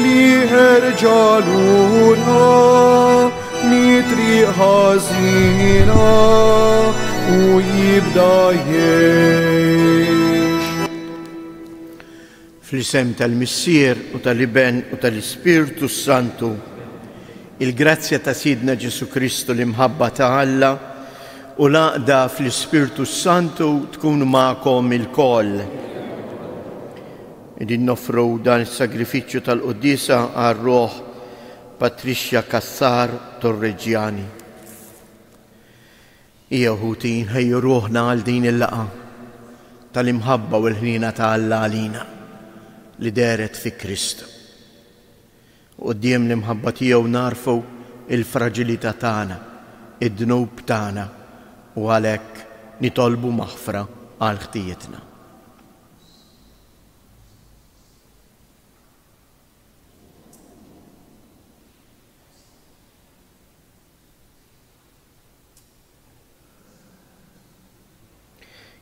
Liħer ġaluna mitri ħazina u jibda jiex. Fl-isem tal-Missier u tal-Iben u tal-Ispirtu Santu, il-grazzja ta' Sidna Ġesu Kristu l-imħabba ta' Alla u laqda fl-Ispirtu Santu tkun ma'kom il-koll. Qegħdin noffru dan is-sagrifiċċju tal-Quddiesa għar-ruħ Patricia Cassar Torregiani. Hija u ħuti nħejju ruħna għal din il-laqgħa tal-imħabba u l-ħniena ta' Alla għalina li dehret fi Kristu. Quddiem l-imħabba tiegħu narfu il-fraġilità tagħna, id-dnub tagħna u għalhekk nitolbu maħfra għal ħtijietna.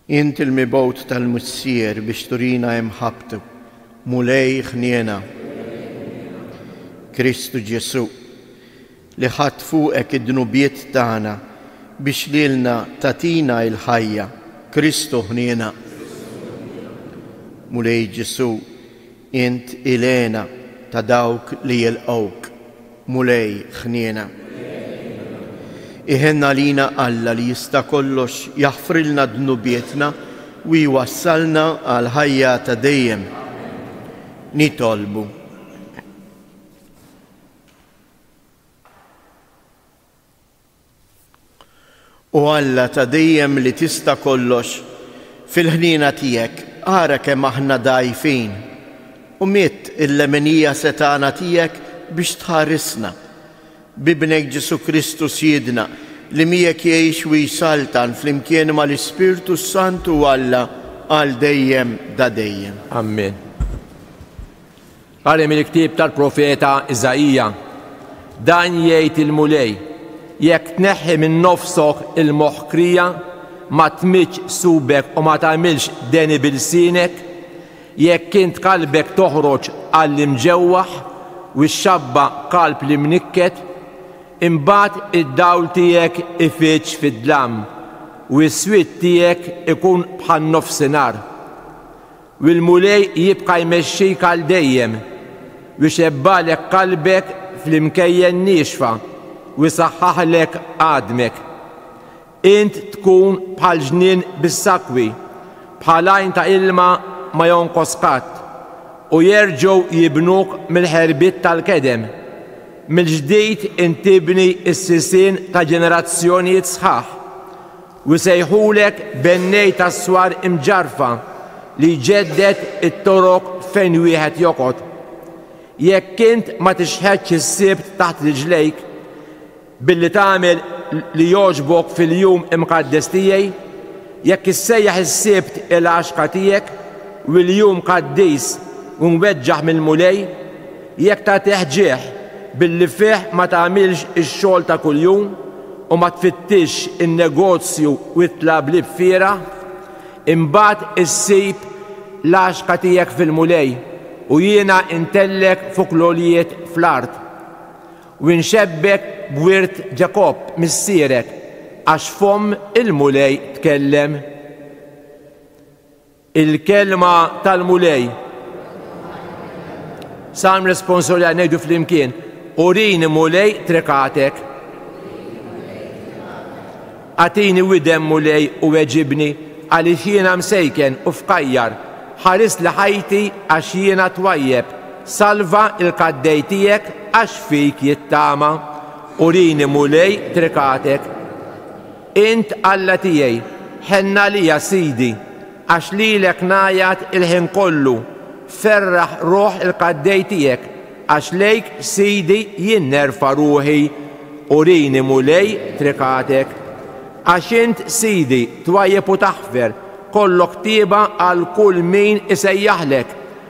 Int il-mibgħut tal-Missier biex turina imħabbtu, Mulej ħniena. Kristu Ġesu, li ħadt fuqek id-dnubiet tagħna biex lilna tagħtina il-ħajja, Kristu ħniena. Mulej Ġesu', int il-għena ta' dawk li jilqgħuk, Mulej ħniena. Iħenn għalina Alla li jista' kollox jaħfrilna dnubietna u jwassalna għal ħajja ta' dejjem. Nitolbu. O Alla ta' dejjem li tista' kollox, fil-ħniena tiegħek ara kemm aħna dgħajfin u midd il-leminija setgħana tiegħek biex tħarisna. B'Ibnek Ġesù Kristu Sjiedna, li miegħek jgħix u jsaltan flimkien mal-Ispirtu s-Santu Alla għal dejjem da dejjem. Amen. Qari mill-ktieb tal-profeta Iżaija, Dan jgħid il-Mulej, Jekk tneħħi minn nofsok il-moħħkrija, ma tmiġġ subek u ma tagħmilx deni b'ilsienek, jekk int kalbek toħroġ għall-imġewwaħ u x-xabba kalb l-imnikket, imbagħad id-dawl tiegħek ifiġġ fid-dlam u s-swied tiegħek ikun bħan-nofsinhar. u l-Mulej jibqa' jmexxik għal dejjem, u jxebgħalek qalbek fl-imkejjen niexfa, u jsaħħaħlek għadmek. Int tkun bħal ġnien bis-sakwi, bħal għajn ta' ilma ma jonqos qatt, u jerġgħu jibnuk mill-ħerbiet tal-kedem. Mill-ġdid int tibni s-sisien ta' ġenerazzjonijiet sħaħ. U jsejħulek bennej tas-swar imġarrfa li jġedded it-torok fejn wieħed joqgħod. Jekk int ma tixħetx is-Sibt taħt riġlejk billi tagħmel li jogħġbok fil-jum imqaddes tiegħi, jekk issejjaħ is-Sibt il-għaxka tiegħek u l-jum qaddis u mweġġaħ mill-Mulej, Jekk tagħtih ġieħ billi fih ma tagħmilx ix-xogħol ta' kuljum u ma tfittixx in-negozju u t-tlablib fiergħa, imbagħad issib l-għaxka tiegħek fil-Mulej u jiena ntellgħek fuq l-għoljiet fl-art, u nxebbhek b'wirt Ġakobb missierek, għax fomm il-Mulej tkellem. Il-kelma tal-Mulej. Salm responsorja ngħidu flimkien. Urini Mulej trekatek. Atini widem Mulej u weġibni għaliex jiena msejken u fkajjar. Ħaris li ħajti għax jiena twajjeb. Salva il-kaddej tiegħek għax fik jittama. Urini Mulej trekatek. Int Alla tiegħi, ħenn għalija, Sidi, għax lilek ngħajjat il-ħin kollu, ferraħ ruħ il-qaddej tiegħek, għax lejk, Sidi, jien nerfa' ruħi. Urini, Mulej, trikatek. Għax int, Sidi, twajjeb u taħfer, kollok tieba għal kull min isejjaħlek.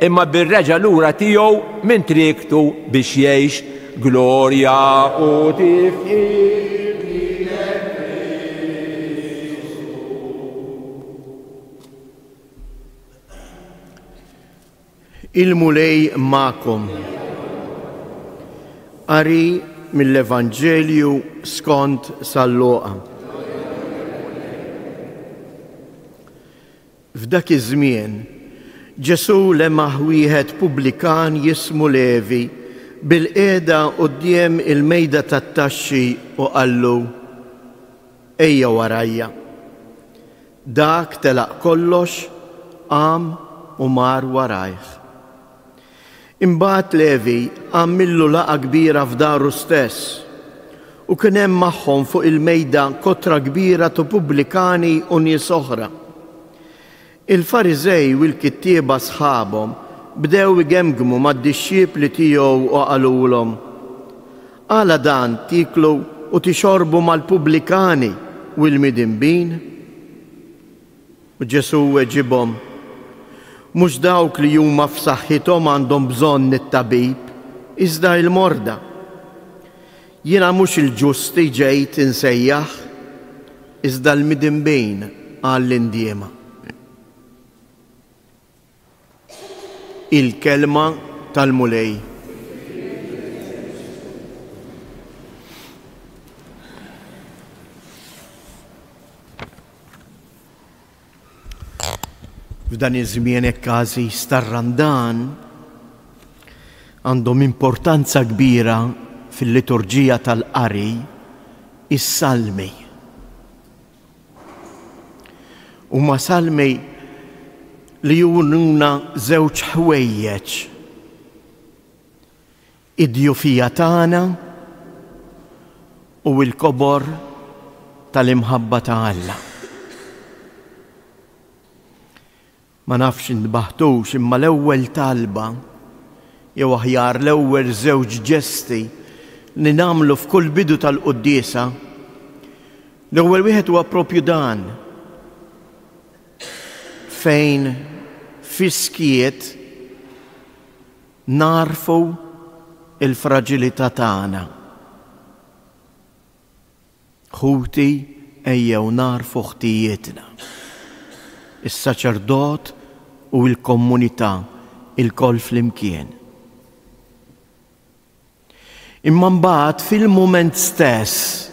Imma bir-reġa' lura tiegħu minn triektu biex jgħix, glorja u tifħir lilek Kristu. Il-Mulej magħkom. Qari mill-Evanġelju skont sal-Luqa. F'dak iż-żmien, Ġesù lemaħ wieħed pubblikan jismu Levi bilqiegħda quddiem il-mejda tat-taxxi u qallu, Ejja warajja. Dak telaq kollox, qam u mar warajh. Imbagħad Levi għamillu laqgħa kbira f'daru stess, u kien hemm magħhom fuq il-mejda kotra kbira tu pubblikani u nies oħra. Il-Fariżej u l-kittieba sħabhom bdew igemgmu mad-dixxipli tiegħu u qalulhom, Għala dan tieklu u tixorbu mal-pubblikani u l-midinbin? U Ġesù weġibhom, Mhux dawk li huma f'saħħithom għandhom bżonn it-tabib, iżda il-morda. Jiena mhux il-ġusti ġejt insejjaħ, iżda l-midinbin għall-indiema. Il-kelma tal-Mulej. F'dan iż-żmien hekk każi star-Randan għandhom importanza kbira fil-liturġija tal-qari is-salmi. Huma salmi li jurnuna żewġ ħwejjeġ. Id-djufija tagħna u l-kobor tal-imħabba ta' Alla. Ma nafx intbaħtux imma l-ewwel talba, jew aħjar l-ewwel żewġ ġesti li nagħmlu f'kull bidu tal-quddiesa, l-ewwel wieħed huwa proprju dan, fejn fis-skiet nagħrfu l-fraġilità tagħna. Ħuti, ejjew nagħrfu ħtijietna. Is-saċerdot u l-kommunità lkoll flimkien. Imma mbagħad fil-mument stess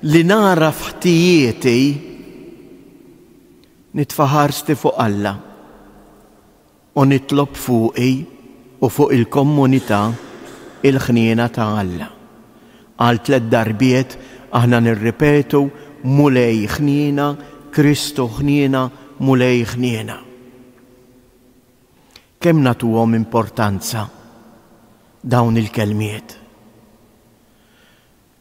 li nagħraf ħtijieti, nitfa' ħarsti fuq Alla. u nitlob fuqi u fuq il-kommunità il-ħniena ta' Alla. Għal tliet darbiet aħna nirripetu, Mulej ħniena, Kristu ħniena, Mulej ħniena. Kemm nagħtuhom importanza dawn il-kelmiet?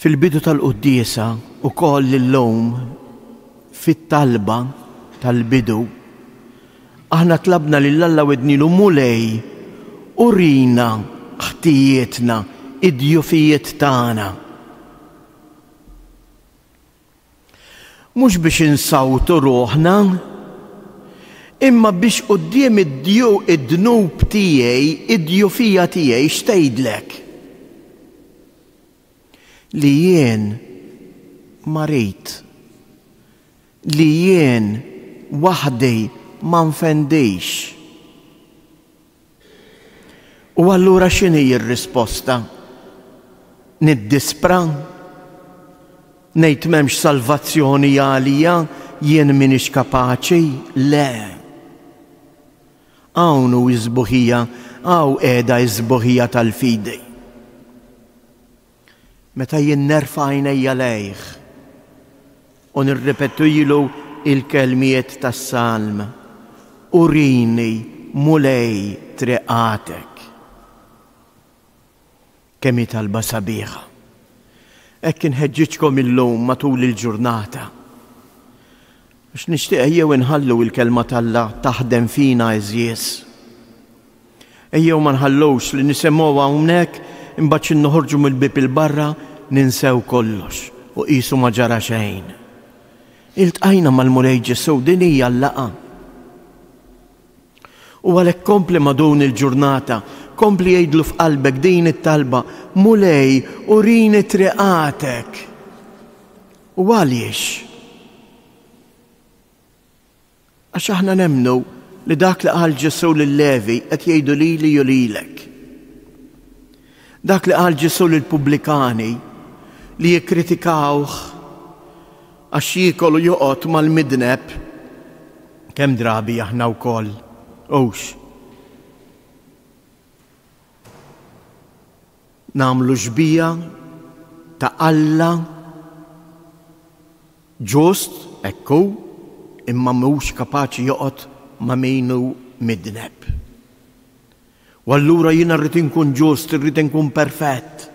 Fil-bidu tal-quddiesa ukoll illum fit-talba tal-bidu aħna tlabna lil Alla u għednilu, Mulej, urina ħtijietna, id-djufijiet tagħna. Mhux biex insawtu ruħna, imma biex quddiem id-dnub tiegħi, id-djufija tiegħi x'tgħidlek? li jien marid, li jien waħdi ma nfendix. U allura x'inhi r-risposta? Niddispra? Ngħid m'hemmx salvazzjoni għalija jien m'iniex kapaċi? Le. Hawn hu s-sbuħija, hawn qiegħda s-sbuħija tal-fidi. Meta jien nerfa' għajnejja lejh u nirripetilu l-kelmiet tas-salm, Urini, Mulej, triqatek. Kemm hi talba sabiħa! Hekk inħeġġiġkom illum matul il-ġurnata. Għax nixtieq ejjew inħallu l-Kelma t'Alla taħdem fina għeżież. Ejjew ma nħallux li nisemgħuha hawnhekk imbagħad xi noħorġu mill-bieb 'il barra ninsew kollox u qisu ma ġara xejn. Iltqajna mal-Mulej Ġesù din hija l-laqgħa. U għalhekk kompli ma' dun il-ġurnata, kompli għidlu f'qalbek din it-talba, Mulej, urini triqatek. U għaliex? Għax aħna nemmnu li dak li qal Ġesù lil Levi qed jgħidu lili u lilek. Dak li qal Ġesù lill-pubblikani li jikkritikawh għax jiekol u joqgħod mal-midneb, kemm drabi aħna wkoll hux nagħmlu xbieha ta' Alla ġust, hekk hu, imma mhux kapaċi joqgħod ma' min hu midneb. U allura jiena rrid inkun ġust, irrid inkun perfett.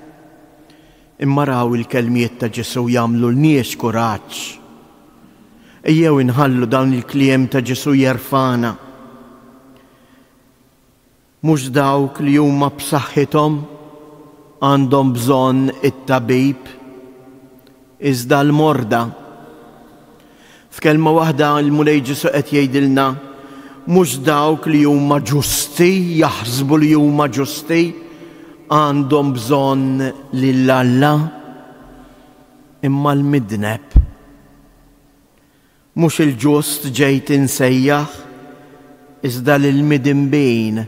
Imma raw il-kelmiet ta' Ġesù jagħmlu lnies kuraġġ. Ejjew inħallu dawn il-kliem ta' Ġesù jerfgħana. Mhux dawk li huma b'saħħithom għandhom bżonn it-tabib, iżda l-morda. F'kelma waħda, il-Mulej Ġesù qed jgħidilna, mhux dawk li huma ġusti, jaħsbu li huma ġusti, għandhom bżonn lil Alla, imma l-midneb. Mhux il-ġust ġejt insejjaħ, iżda lill-midinbin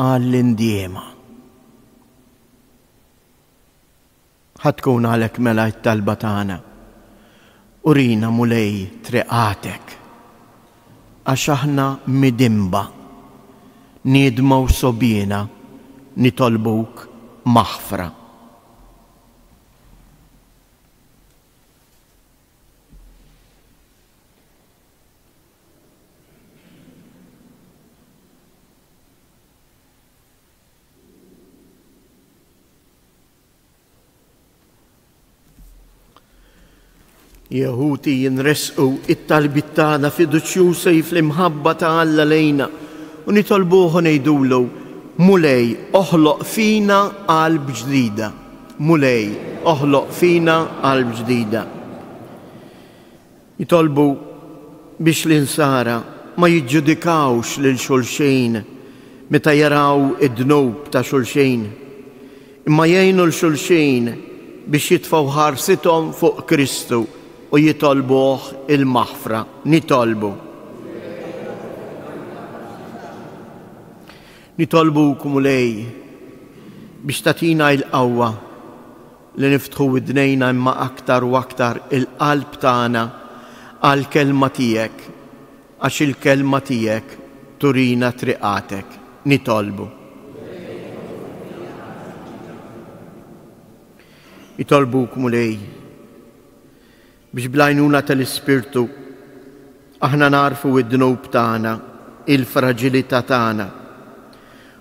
għall-indiema. Ħa tkun għalhekk mela t-talba tagħna, Urina, Mulej, triqatek, għax aħna midinba, niedma u sogħbiena nitolbuk maħfra. Jehuti jinresqu it-talbit tagħna fiduċjużi fl-imħabba ta' Alla lejna u nitolbuh ngħidulu Mulej oħloq fina qalb ġdida. Mulej oħloq fina qalb ġdida. Jitolbu biex l-Insara ma jiġġudikawx lil xulxin meta jaraw id-dnub ta' xulxin, imma jgħinu 'l xulxin biex jitfgħu ħarsithom fuq Kristu u jitolbuh il-maħfra. Nitolbu. Nitolbuk, Mulej, biex tagħtina il-qawwa. li niftħu widnejna imma aktar u aktar il-qalb tagħna għall-Kelma Tiegħek, għax il-Kelma Tiegħek turina triqatek. Nitolbu. Nitolbuk, Mulej, Biex bl-għajnuna tal-Ispirtu aħna nagħrfu d-dnub tagħna, il-fraġilità tagħna,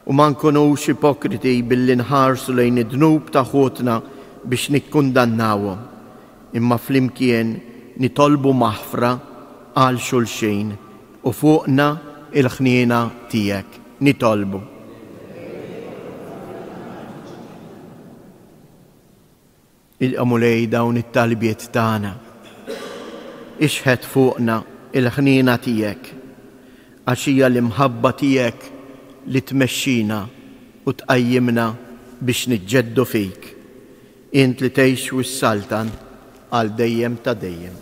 u ma nkunux ipokriti billi nħarsu lejn id-dnub ta' ħutna biex nikkundannawhom, imma flimkien nitolbu maħfra għal xulxin u fuqna l-ħniena tiegħek. Nitolbu. Ilqa' Mulej dawn it-talbiet tagħna. Ixħet fuqna il-ħniena tiegħek, għax hija l-imħabba tiegħek li tmexxina u tqajjimna biex niġġeddu fik, int li tgħix u ssaltan għal dejjem ta' dejjem.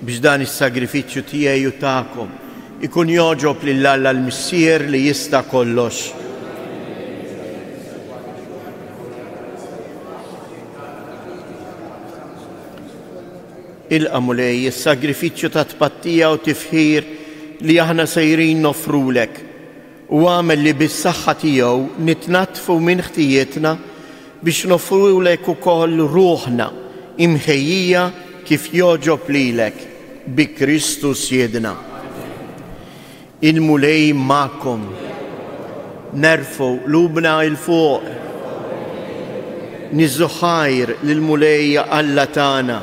Biex dan is-sagrifiċċju tiegħi u tagħkom ikun jogħġob lil Alla l-Missier li jista' kollox. Ilqa' Mulej is-sagrifiċċju ta' tpattija u tifħir li aħna sejrin noffrulek. u agħmel li bis-saħħa tiegħu nitnaddfu minn ħtijietna biex noffrulek ukoll ruħna imħejjija kif jogħġob lilek, bi Kristu Siedna. Il-Mulej magħkom. Nerfgħu qlubna 'il fuq. Niżżu ħajr lill-Mulej Alla tagħna.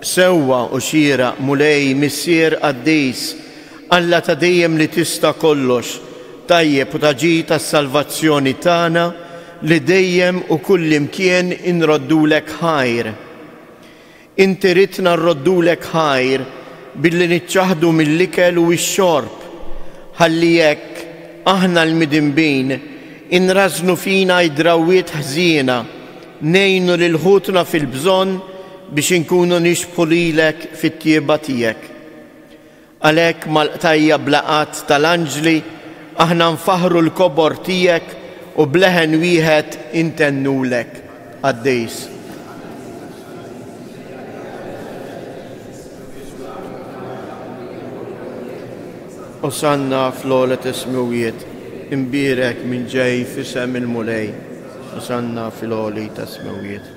Sewwa u xieraq Mulej Missier Qaddis, Alla ta' dejjem li tista' kollox, tajjeb u ta' ġid għas-salvazzjoni tagħna li dejjem u kullimkien inroddulek ħajr. Inti ridtna nroddulek ħajr billi niċċaħħdu mill-ikel u x-xorb, ħalli hekk aħna l-midinbin inrażżnu fina d-drawwiet ħżiena, ngħinu lil ħutna fil-bżonn biex inkunu nixbħu lilek fit-tjieba tiegħek. Għalhekk mal-qtajja' bla għadd tal-anġli aħna nfaħħru l-kobor tiegħek u b'leħen wieħed intennulek qaddis. Osanna fl-ogħla tas-smewwiet, imbierek min ġej f'isem il-Mulej, osanna fil-għoli tas-smewwiet.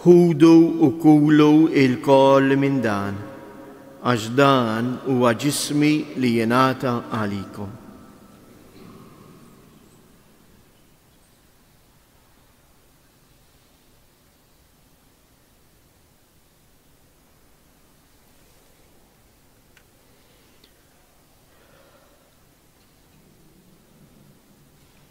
Ħudu u kulu ilkoll minn dan, għax dan huwa ġismi li jingħata għalikom.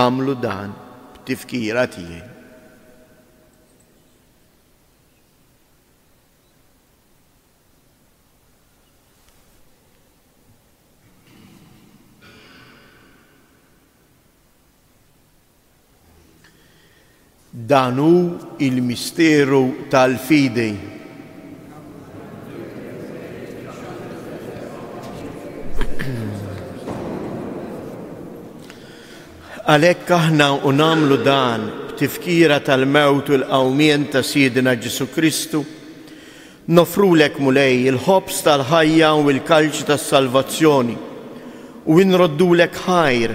Agħmlu dan b'tifkira tiegħi. Dan hu l-misteru tal-fidi. Għalhekk aħna u nagħmlu dan b'tifkira tal-mewt u l-qawmien ta' Sidina Ġesu Kristu Noffrulek, Mulej, il-ħobż tal-ħajja u l-kalċ tas-salvazzjoni, u nroddulek ħajr,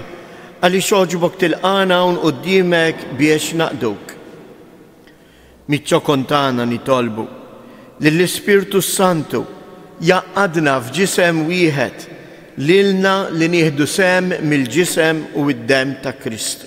għaliex għoġbok tilqagħna hawn quddiemek biex naqduk. Miċ-ċokon tagħna nitolbu li l-Ispirtu s-Santu jgħaqqadna f'ġisem wieħed lilna li nieħdu sehem mill-ġisem u d-demm ta' Kristu.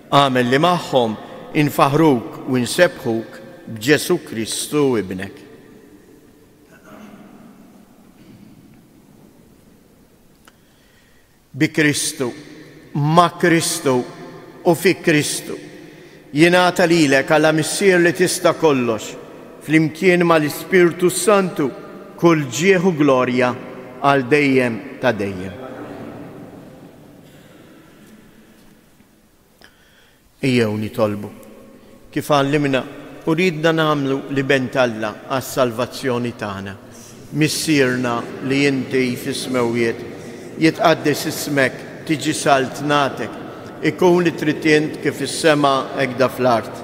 Agħmel li magħhom infaħħruk u nsebbħuk b'Ġesù Kristu Ibnek. Bi Kristu, ma' Kristu u fi Kristu jingħata lilek għala Missier li tista' kollox flimkien mal-Ispirtu Santu kull ġieħ u glorja għal dejjem ta' dejjem. Ejjew nitolbu. Kif għallimna u riedna nagħmlu l-iben t'Alla għas-salvazzjoni tagħna, Missierna li inti fis-smewwiet, jitqaddes ismek, tiġi saltnatek, ikun li trid int kif fis-sema hekda fl-art.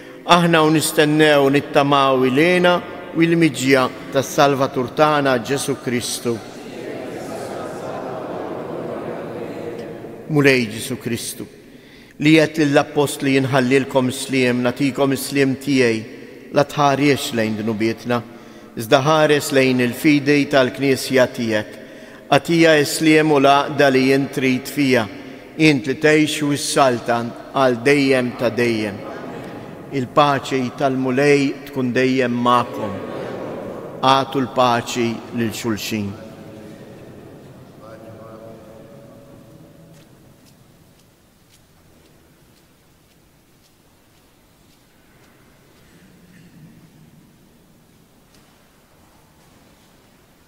Aħna u nistennew u nittamaw il-għena u il-miġja tas-Salvatur tagħna Ġesù Kristu. Mulej Ġesù Kristu, li qed lill-appostli jinħallilkom is-sliem, nagħtikom is-sliem tiegħi, la tħares lejn dnubietna, iżda ħares lejn il-fidi tal-Knisja tiegħek. Għatija is-sliem u l-għaqda li int trid fija, int li tgħix u ssaltan għal dejjem ta' dejjem. Il-paċi tal-Mulej tkun dejjem magħkom. Agħtu l-paċi lil xulxin.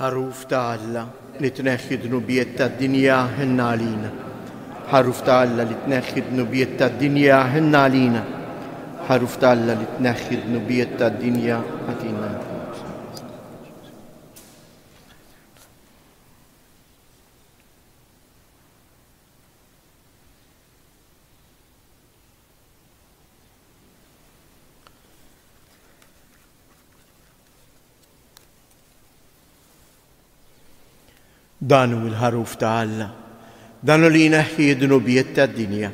ħaruf ta' Alla li tneħħi dnubiet ta' dinja ħinna għalina. ħaruf ta' Alla li tneħħi dnubiet ta' dinja ħinna għalina. ħaruf ta' Alla li tneħħi dnubiet ta' dinja għatina. Dan hu l-ħaruf ta' Alla, dan hu li jneħħi d-dnubiet tad-dinja.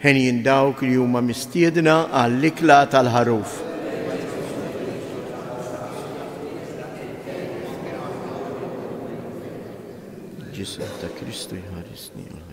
Henjin dawk li huma mistiedna għall-ikla tal-Ħaruf. Ġisem ta' Kristu jħarisni għal ħajja.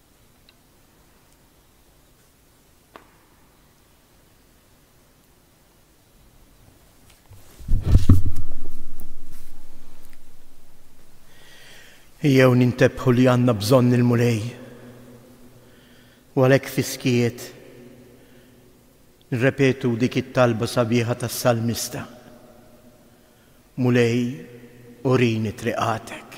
Jew nintebħu li għandna bżonn il-mulej. U għalhekk fiskiet nrepetu dik it-talba sabiħa tas-salmista. Mulej urini triqatek.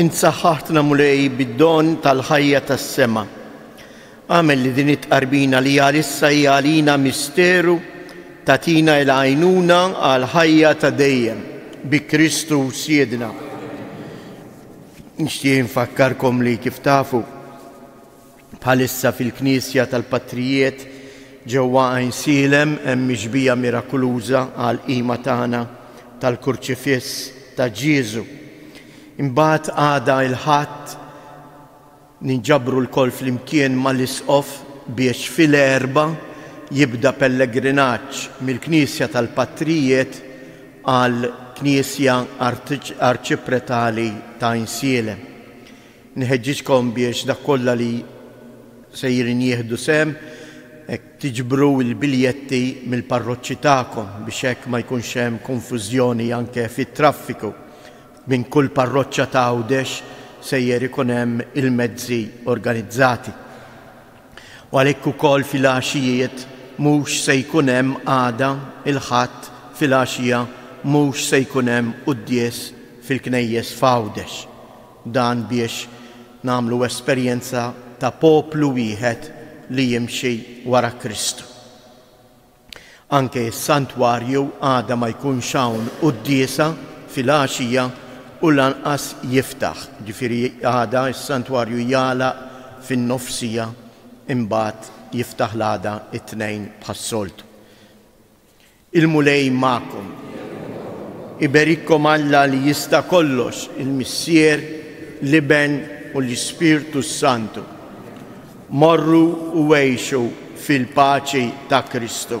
Int saħħaħtna Mulej bid-don tal-ħajja tas-sema. Għamel li din it-tqarbina li għalissa hija għalina misteru tatina il-għajnuna għal ħajja ta' dejjem bi Kristu Siedna. Nixtieq infakkarkom li kif tafu Bħalissa fil-Knisja tal-Patrijiet ġewwa Għajnsielem hemm mixbija mirakuluża għall-qima tagħna tal-Kurċifiss ta' Ġieżu. Imbagħad għada il-Ħadd ninġabru lkoll flimkien mal-Isqof biex fil-Erbgħa jibda pellegrinaġġ mill-Knisja tal-Patrijiet għall-Knisja Arċipretali t'Għajnsielem. Nħeġġiġkom biex dak kollha li sejrin jieħdu sehem hekk tiġbru l-biljetti mill-parroċċi tagħkom biex hekk ma jkunx hemm konfużjoni anke fit-traffiku. Minn kull parroċċa ta' Għawdex sejjer ikun hemm il-mezzi organizzati. U għalhekk ukoll filgħaxijiet mhux se jkun hemm għada, il-Ħadd, filgħaxija mhux se jkun hemm quddies fil-knejjes f'Għawdex. Dan biex nagħmlu esperjenza ta' poplu wieħed li jimxi wara Kristu. Anke s-santwarju għada ma jkunx hawn quddiesa filgħaxija u lanqas jiftaħ, ġifieri għada s-santwarju jagħlaq fin-nofsija imbagħad jiftaħ l-għada t-Tnejn bħas-soltu. Il-Mulej magħkom. Iberikkom Alla li jista' kollox, il-Missier, l-Iben u l-Ispirtu s-Santu. Morru u għejxu fil-paċi ta' Kristu.